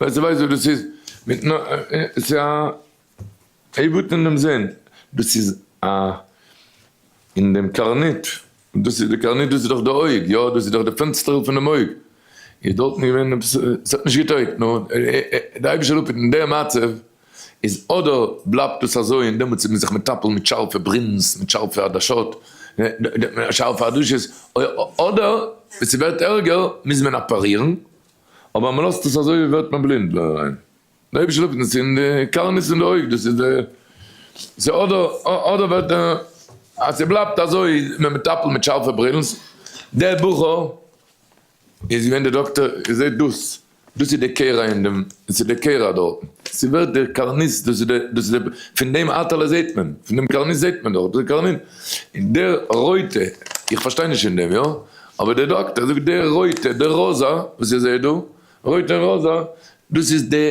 ווייל זיי ווייסט וואס דאס איז מיט נ ע, ס'איז א עיוות אין דעם זין, דאס איז א אין דעם קרנית, דאס איז די קרנית דאס איז דאך די אויג, יא דאס איז דאך די פענסטערל פון דעם אויג, איז דארטן געווען עפעס ס'האט נישט געטויגט, נו די אייבערשטער האט אפ אין די מצב. איז אדער בלייבט עס אזוי און דעמאלטס איז מען זיך מטפל מיט שארפע ברינס, מיט שארפע עדשות, שארפע עדשות, אדער ווען ס'ווערט ערגער מוז מען אפערירן, אבער אז מען לאזט עס אזוי ווערט מען בלינד און ריין, די אייבערשטער זאגט אונז אין די קרנות אין די אויג, דאס איז די, סאו אדער אדער ווערט ער, אז ס'בלייבט אזוי איז מען מטפל מיט שארפע ברינס, דער בחור. איז געווען דער דאקטער איר זעט דאס, דאס איז די קערה אין דעם, דאס איז די קערה דארטן, ס'איז ווערט דער קארניס, דאס איז דער, דאס איז דער, פון דעם אטעלע זעט מען, פון דעם קארניס זעט מען דארט, דאס איז קארנין, און דער רויטע, איך פארשטיי נישט אין דעם, יא? אבער דער דאקטער זאגט דער רויטע, דער ראזע, וואס איר זעט דא, רויט און ראזע, דאס איז די.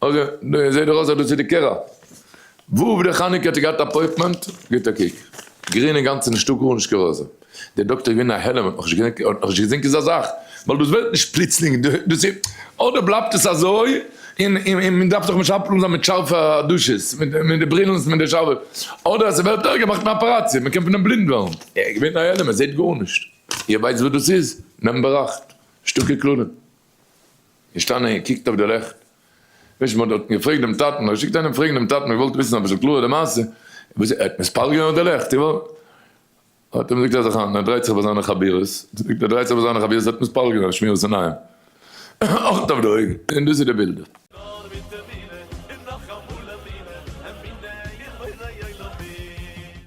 אגב, דא זעהט דאך אויס אז דאס איז די קערה. וואוו די חנוכה האט געהאט אפויטמענט, גיבט א קוק. גרין אינגאנצן נישטא גארנישט כרזע. די דאקטער איז געווען א העלם, האט נאך נישט געזעהן כזה זאך. ווייל דאס ווערט נישט פלוצלינג, דאס איז אדער בלייבט עס אזוי, און מען דארף זיך משפטל זיין מיט שארפע עדשות, מיט די ברילן מיט די שארפע, אדער אז עס ווערט ערגער מאכט מען אפעראציע, מען קען פון דעם בלינד ווערן. ער איז געווען א העלם, ער זעהט גארנישט. איר ווייסט וואס דאס איז? נעמט באראכט. שטארקע קללה. געשטאנען און געקוקט אויף די לעכט, נישט מען האט דארטן געפרעגט דעם טאטן, מען האט געשיקט איינעם פרעגן דעם טאטן, מען האט געוואלט וויסן אביסל קלארער די מעשה, וואס ער האט מספר געווען אויף די לעכט, איר וואלט, האט ער אים געזאגט אז איך ער דרייט זיך ביי זיינע חבירות, זאגט ער ער דרייט זיך ביי זיינע חבירות, ער האט מספר געווען שמירת עיניים, אכט אויף די אויגן, און דאס איז די בילדער.